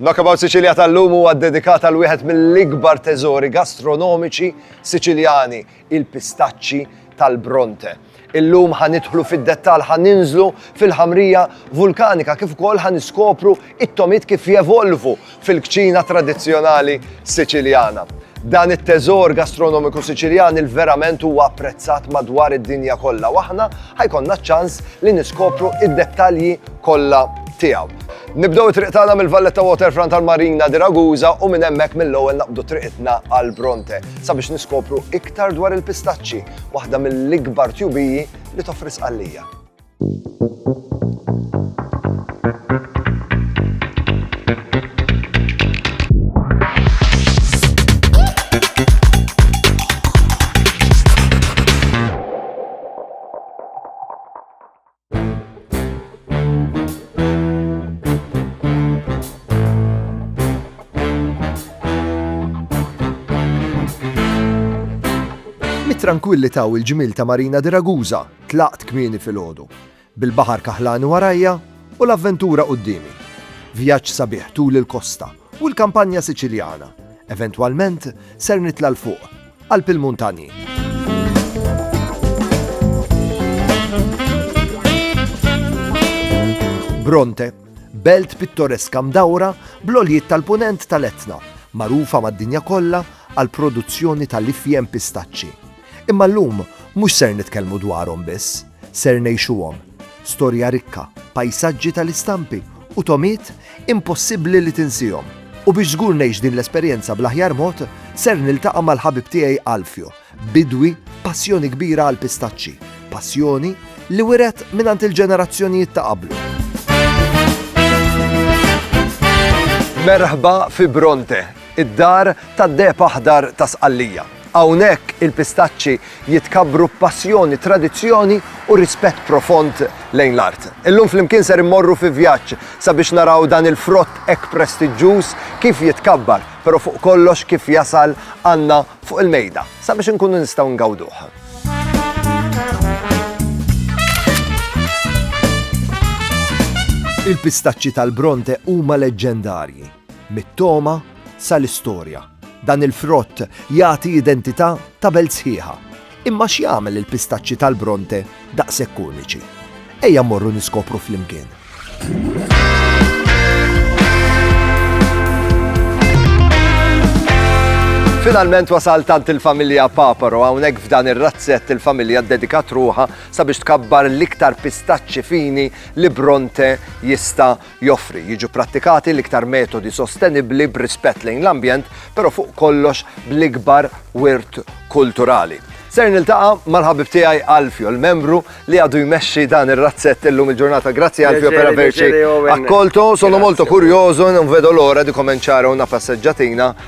Knockabout Sicilia tal-lum huwa ddedikat għal wieħed mill-ikbar teżori gastronomiċi Siċiljani, il-pistaċċi tal-Bronte. Illum ħanidħlu fid-dettal ħaninżlu fil-ħamrija vulkanika kif ukoll ħaniskopru it-tomit kif jevolvu fil-kċina tradizzjonali Siċiljana. Dan it-teżor gastronomiku Siċiljan il-verament huwa apprezzat madwar id-dinja kollha waħna ħajkonna ċans li niskopru id-dettalji kollha tiegħu. Nibdew it-triq tagħna mill-Valletta Waterfront għal Marina di Ragusa u minn hemmhekk mill-ewwel naqbdu triqitna għal Bronte sabiex niskopru iktar dwar il-pistaċċi, waħda mill-ikbar tjubiji li toffri Sqallija. Mit-trankwillità u l-ġmiel ta' Marina di Ragusa tlaqt kmieni filgħodu, bil-baħar kaħlani warajja u l-avventura quddiemi. Vjaġġ sabiħ tul il-kosta U l-kampanja Siċiljana. Eventwalment, ser nitla' 'l fuq, qalb il-muntanji. Bronte, belt pittoreska mdawra bl-għoljiet tal-punent tal-Etna, magħrufa mad-dinja kollha għal produzzjoni tal-ifjem pistaċċi. Imma llum mhux ser nitkellmu dwarhom biss. ser ngħixuhom, storja rikka, pajsaġġi tal-istampi u togħmiet impossibbli li tinsihom. U biex żgur ngħix din l-esperjenza bl-aħjar mod, ser niltaqa' mal-ħabib tiegħi Alfio, bidwi b'passjoni kbira għall-pistaċċi, passjoni li wiret mingħand il-ġenerazzjonijiet ta' qablu. Merħba fi Bronte, Id-Dar tad-Deheb Aħdar ta' Sqallija. Hawnhekk il-pistaċċi jitkabbru b'passjoni, tradizzjoni u rispett profond lejn l-art. Illum flimkien ser immorru fi vjaġġ sabiex naraw dan il-frott hekk prestiġġuż kif jitkabbar, però fuq kollox kif jasal għandna fuq il-mejda sabiex inkunu nistgħu ngawduh. Il-pistaċċi tal-Bronte huma leġġendarji. Mit-togħma sal-istorja, dan il-frott jagħti identità ta' belt sħiħa. Imma x'jagħmel il-pistaċċi tal-Bronte daqshekk uniċi? Ejja mmorru niskopru flimkien. Finalment wasal tant il-familja Paparo hawnhekk f'dan ir-razzett il-familja ddedikat ruħa sabiex tkabbar l-iktar pistaċċi fini li Bronte jista' joffri, jiġu pprattikati l-iktar metodi sostenibbli b'rispett lejn l-ambjent, però fuq kollox bl-ikbar wirt kulturali. Ser niltaqa' mal-ħabib tiegħi Alfio, l-membru li għadu jmexxi dan ir-razzett illum il-ġurnata. Grazzi Alfio per averci accolto. Sono molto curioso, non vedo l'ora di cominciare una passeggiatina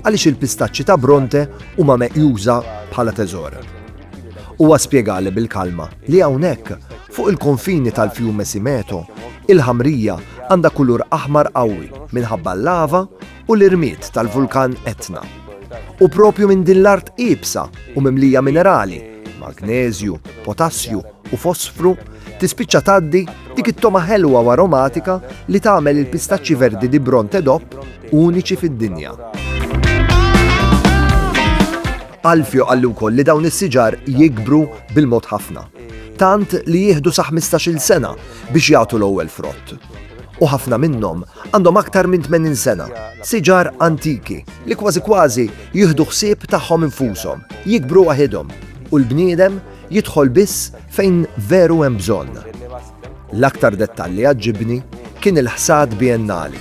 Għaliex il-pistaċċi ta' Bronte huma meqjusa bħala teżor? Huwa spjegali bil-kalma li hawnhekk, fuq il-konfini tal-Fiume Simeto, il-ħamrija għandha kulur aħmar qawwi minħabba l-lava u l-irmied tal-vulkan Etna. U proprju minn din l-art iebsa u mimlija minerali, magneżju, potassju, u fosfru, tispiċċa tgħaddi dik it-togħma ħelwa u aromatika li tagħmel il-pistaċċi verdi di Bronte DOP uniċi fid-dinja. Alfio għallu wkoll li dawn is-siġar jikbru bil-mod ħafna. Tant li jieħdu sa 15-il sena biex jagħtu l-ewwel frott. U ħafna minnhom għandhom aktar minn 80 sena, siġar antiki li kważi kważi jieħdu ħsieb tagħhom infushom, jikbru waħidhom u l-bniedem Jidħol biss fejn veru hemm bżonn. L-aktar dettall li għaġġibni kien il-ħsad biennali.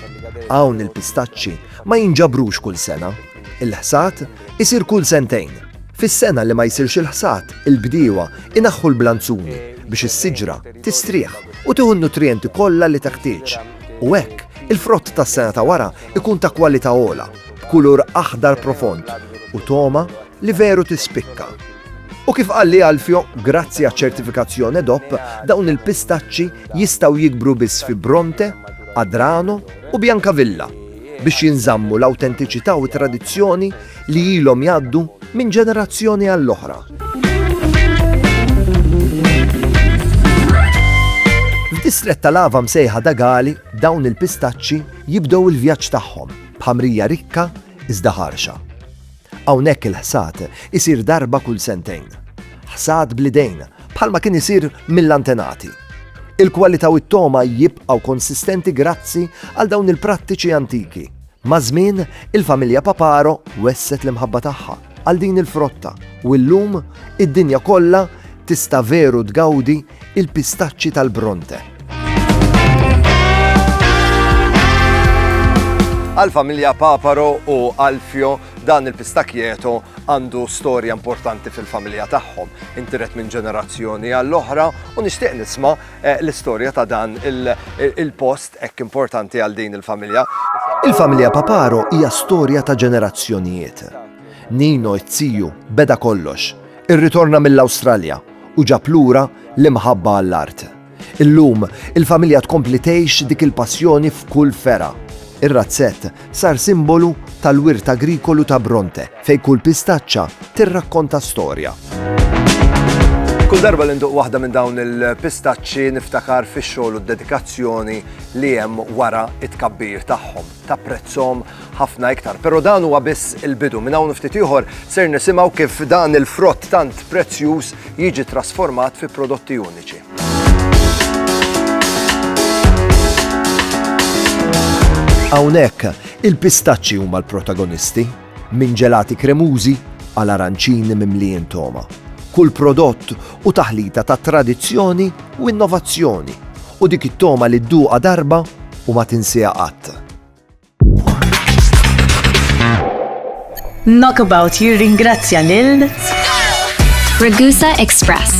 Hawn il-pistaċċi ma jinġabrux kull sena. Il-ħsad isir kull sentejn. Fis-sena li ma jsirx il-ħsad, il-bdiewa inaħħu l-blanzuni biex is-siġra tistrieħ u tieħu n-nutrijenti kollha li teħtieġ. U hekk, il-frott tas-sena ta' wara jkun ta' kwalità ogħla, b'kulur aħdar profond u togħma li veru tispikka. U kif qal li Alfio, grazzi għaċ-ċertifikazzjon EDOP, dawn il-pistaċċi jistgħu jikbru biss fi Bronte, Adrano u Biancavilla biex jinżammu l-awtentiċità u t-tradizzjoni li ilhom jgħaddu minn ġenerazzjoni għall-oħra. F'distrett tal-lava msejħa dagali dawn il-pistaċċi jibdew il-vjaġġ tagħhom b'ħamrija rikka iżda ħarxa. Hawnhekk il-ħsad isir darba kull sentejn. Ħsad bl-idejn, bħalma kien isir mill-antenati. Il-kwalità u t-togħma jibqgħu konsistenti grazzi għal dawn il-prattiċi antiki. Maż-żmien, il-familja Paparo wesset l-imħabba tagħha għal din il-frotta u llum id-dinja kollha tista' veru tgawdi il-pistaċċi tal-Bronte. Għal-familja Paparo u Alfio dan il-pistakjeto għandu storja importanti fil-familja tagħhom. Intiret minn ġenerazzjoni għall-oħra u nixtieq nisma eh, l-istorja ta' dan il-post hekk importanti għal din il-familja. Il-familja Paparo hija storja ta' ġenerazzjonijiet. Nino it-tiju beda kollox. Irritorna mill-Awstralja u ġab lura l-imħabba għall-art. Illum, il-familja tkompli tgħix dik il-passjoni f'kull fergħa. Ir-razzett sar simbolu tal-wirt agrikolu ta' Bronte, fejn kull pistaċċa tirrakkonta storja. Kull darba li nduq waħda minn dawn il-pistaċċi niftakar fix-xogħol u d-dedikazzjoni li hemm wara it-tkabbir tagħhom. tapprezzhom ħafna iktar. Però dan huwa biss il-bidu. Minn hawn ftit ieħor ser nisimgħu kif dan il-frott tant prezzjuż jiġi trasformat fi prodotti uniċi. Hawnhekk, il-pistaċċi huma l-protagonisti. Minn ġelati kremużi għal aranċini mimlijin togħma, kull prodott hu taħlita ta' tradizzjoni u innovazzjoni u dik it-togħma li dduqha darba u ma tinsiha qatt. Knockabout jirringrazzja lil Ragusa Express.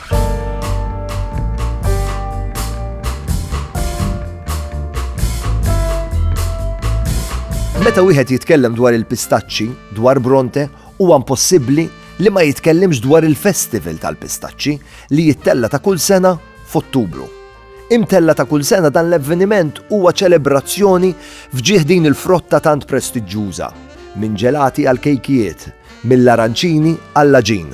Meta wieħed jitkellem dwar il-pistaċċi, dwar Bronte, huwa impossibbli li ma jitkellimx dwar il-festival tal-pistaċċi li jittella ta' kull sena f'Ottubru. Imtella ta' kull sena dan l-avveniment huwa ċelebrazzjoni fġieħ din il-frotta tant prestiġġuża, minn ġelati għal kejkijiet, mill-aranċini għall-laġin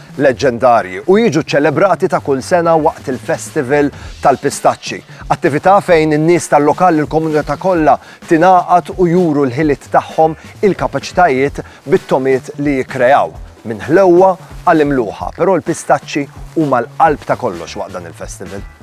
leġġendarji u jiġu ċċelebrati ta' kull sena waqt il-Festival tal-Pistaċċi, attività fejn in-nies tal-lokal u l-komunità kollha tingħaqad u juru l-ħiliet tagħhom, il-kapaċitajiet bit-togħmiet li jikkreaw, minn ħlewwa għal imluħa, però l-pistaċċi huma l-qalb ta' kollox waqt dan il-festival.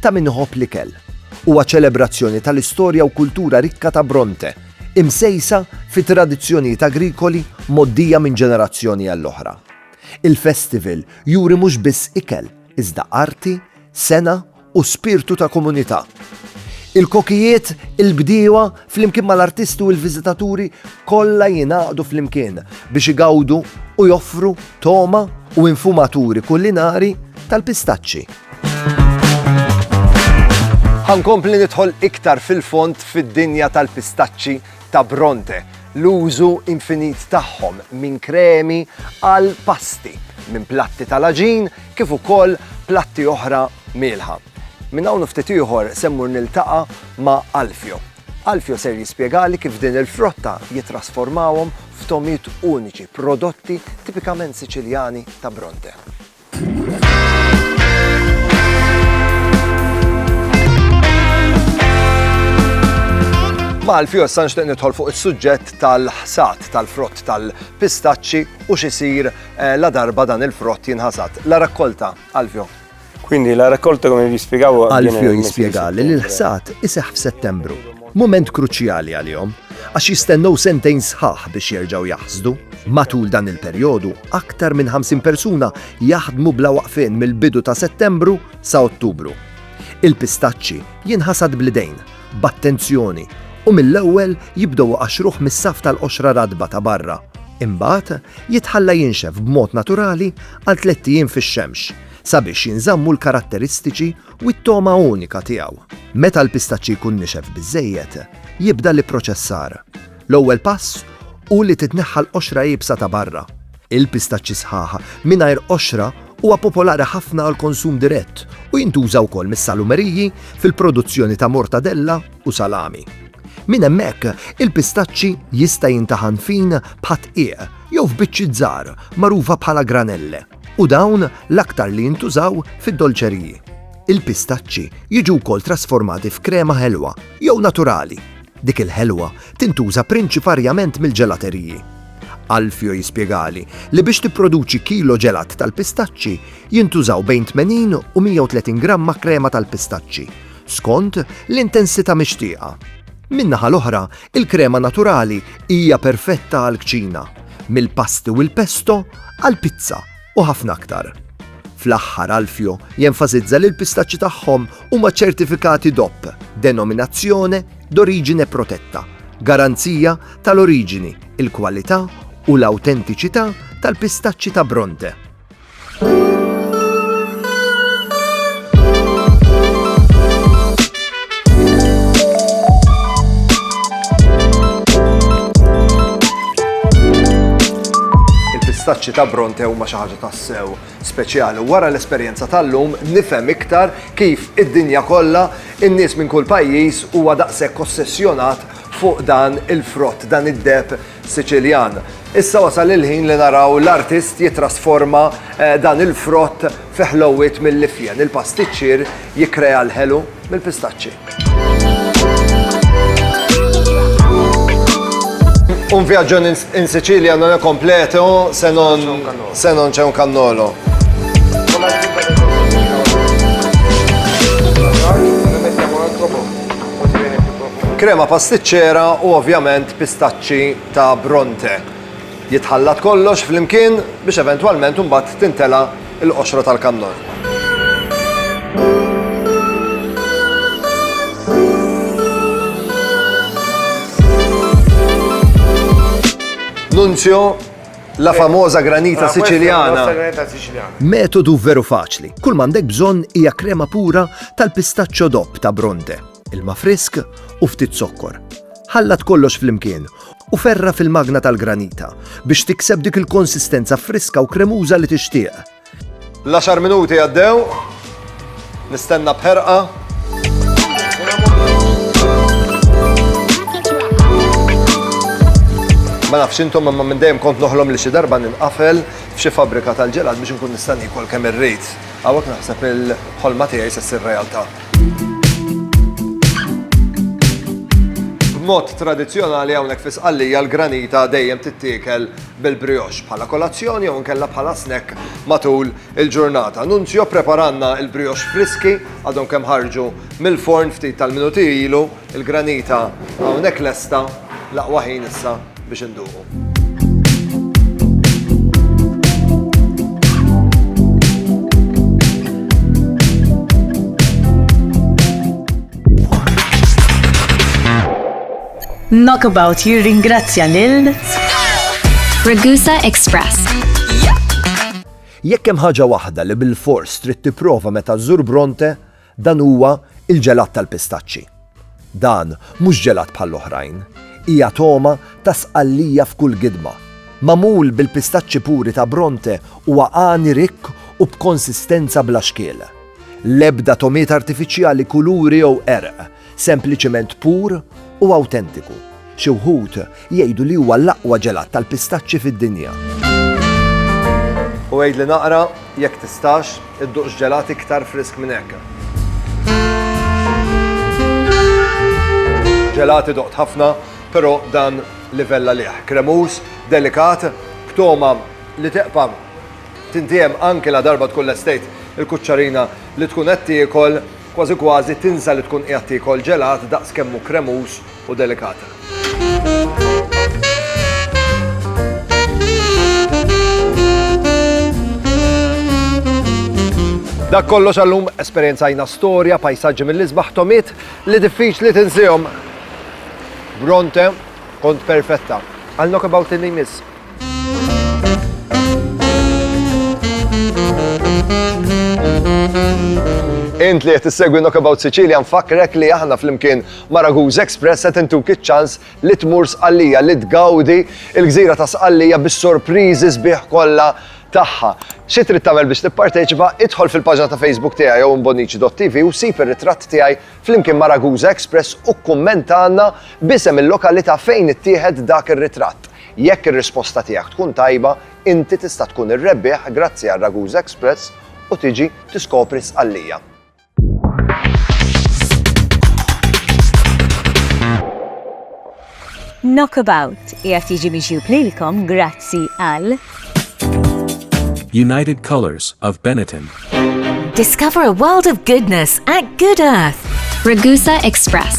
ta' min iħobb l-ikel. Huwa ċelebrazzjoni tal-istorja u kultura rikka ta' Bronte, imsejsa fi tradizzjonijiet agrikoli mgħoddija minn ġenerazzjoni għall-oħra. Il-festival juri mhux biss ikel, iżda arti, sengħa u spirtu ta' komunità. Il-kokijiet, il-bdiewa, Flimkien mal-artisti u l-viżitaturi kollha jingħaqdu flimkien biex igawdu u joffru togħma u infumaturi kulinari tal-pistaċċi. Ħa nkompli nidħol iktar fil-fond fid-dinja tal-pistaċċi ta' Bronte, l-użu infinit tagħhom minn kremi għal pasti, minn platti tal-aġin kif ukoll platti oħra mielħa. Minn hawn u ftit ieħor se mmur niltaqa' ma' Alfio. Alfio ser jispjegali kif din il-frotta jittrasformawhom f'togħmiet uniċi, prodotti tipikament Siċiljani ta' Bronte. Ma' Alfio issa nixtieq nidħol fuq is-suġġett tal-ħsad tal-frott tal-pistaċċi u x'isir ladarba dan il-frott jinħasad. La raccolta, Alfio. Quindi la raccolta come vi spiegavo Alfio jispjega li l-ħsad iseħħ f'Settembru. Mument kruċjali għalihom għax jistennew sentejn sħaħ biex jerġgħu jaħsdu. Matul dan il-perjodu, aktar minn 50 persuna jaħdmu bla waqfien mill-bidu ta' Settembru sa' Ottubru. Il-pistaċċi jinħasad blidejn b'attenzjoni u mill-ewwel jibdew iqaxxruh mis-saff tal-qoxra ratba ta' barra. Imbagħad jitħalla jinxef b'mod naturali għal tlett ijiem fix-xemx sabiex jinżammu l-karatteristiċi u t-togħma unika tiegħu. Meta l-pistaċċi jkun nixef biżżejjed, jibda l-ipproċessar. L-ewwel pass hu li titneħħa l-qoxra iebsa ta' barra. Il-pistaċċi sħaħ mingħajr qoxra huwa popolari ħafna għall-konsum dirett u jintuża wkoll mis-salumeriji fil-produzzjoni ta' mortadella u salami. Minn hemmhekk, il-pistaċċi jista' jintaħan fin bħad-dqiq jew f'biċċiet żgħar magħrufa bħala granelle u dawn l-aktar li jintużaw fid-dolċeriji. Il-pistaċċi jiġu wkoll trasformati f'krema ħelwa jew naturali. Dik il-ħelwa tintuża prinċiparjament mill-ġelateriji. Alfio jispjegali li biex tipproduċi kilo ġelat tal-pistaċċi jintużaw bejn 80 u 130 gramma krema tal-pistaċċi, skont l-intensità mixtieqa. Min-naħa l-oħra, il-krema naturali hija perfetta għall-kċina, mill-pasti u l-pesto għall-pizza. u ħafna aktar. Fl-aħħar Alfio jenfasizza li l-pistaċċi tagħhom huma ċertifikati DOP, Denominazione d'Origine Protetta, garanzija tal-oriġini, il-kwalità u l-awtentiċità tal-pistaċċi ta' Bronte. il-pistaċċi ta' Bronte huma xi ħaġa tassew speċjali. Wara l-esperjenza tal-lum nifhem iktar kif id-dinja kollha in-nies minn kull pajjiż huwa daqshekk ossessjonat fuq dan il-frott, dan id-deb Siċiljan. Issa wasal il-ħin li naraw l-artist jitrasforma eh, dan il-frott fi ħlowwiet mill-ifjen. Il-pastiċċier jikkrea l-ħelu mill-pistaċċi. Un viaggio in, in Sicilia non è completo se non, se non c'è un cannolo. Krema pastiċċera u ovvjament pistaċċi ta' Bronte. Jitħallat kollox flimkien biex eventwalment imbagħad tintela' l-qoxra tal-kannol. Nunzio La famosa granita siciliana. Metodu veru faċli, kull m'għandek bżonn hija krema pura tal-pistaċċo dopp ta' Bronte, ilma frisk u ftit zokkor. Ħallat kollox flimkien u ferra' fil-magna tal-granita biex tikseb dik il-konsistenza friska u kremuża li tixtieq. L-għaxar minuti għaddew, nistenna bħerqa. Ma nafx intom imma minn dejjem kont noħlom li xi darba ninqafel f'xi fabbrika tal-ġelat biex inkun nista' nikol kemm irrid. Hawnhekk naħseb il-ħolma tiegħi se ssir realtà. B'mod tradizzjonali hawnhekk fi Sqallija l-granita dejjem tittiekel bil-brioche bħala kolazzjoni jew inkella bħala snack matul il-ġurnata. Nunzio ppreparalna l-brioche friski, għadhom kemm ħarġu mill-forn ftit tal-minuti ilu, il-granita hawnhekk lesta, l-aqwa ħin issa biex induqu. Knockabout jirringrazzja lil Ragusa Express. Jekk hemm ħaġa waħda li bil-fors trid tipprova meta żżur Bronte, dan huwa il-ġelat tal-pistaċċi. Dan mhux ġelat bħall-oħrajn, hija toma ta' sqallija f'kull gidma. Mamul bil-pistaċċi puri ta' Bronte huwa għani rikk u b'konsistenza bla xkiel. L-ebda tomiet artifiċjali kuluri jew erq Sempliċement pur u awtentiku. Xi wħud jgħidu li huwa l-aqwa ġelat tal-pistaċċi fid-dinja. U għidli naqra, jekk tistax, idduqx ġelat iktar frisk minn hekk. Ġelati doqt ħafna, però dan livella liħ. Kremus, delikat, b'toma li teqpa tintiem anke la darba tkun l-estate il-kuċċarina li tkun qed tiekol Kważi kważi tinsa li tkun qiegħed tiekol ġelat daqs kemm hu kremuż u delikat. Dak kollox għallum, esperjenzajna storja, pajsaġġi mill-isbaħ, togħmiet li diffiċli tinsihom. Bronte, kont perfetta. Għal Knockabout li jmiss. Int li qed issegwi Knockabout Sicilia nfakkrek li aħna flimkien ma' Raguż Express qed intuk iċ-ċans li tmur Sqallija li tgawdi il-gżira ta' Sqallija bis-sorpriżi sbieħ kollha tagħha. Xi trid tagħmel biex tipparteċipa? Idħol fil-paġna ta' Facebook tiegħi jew imbonnici.tv u sib ir-ritratt tiegħi flimkien ma' Raguża Express u kkummenta għandna b'isem il-lokalità fejn ittieħed dak ir-ritratt. Jekk ir-risposta tiegħek tkun tajba, inti tista' tkun ir-rebbieħ grazzi għal Ragusa Express u tiġi tiskopri Sqallija. Knockabout qiegħed jiġi miġjub lilkom grazzi għal United Colors of Benetton. Discover a world of goodness at Good Earth. Ragusa Express.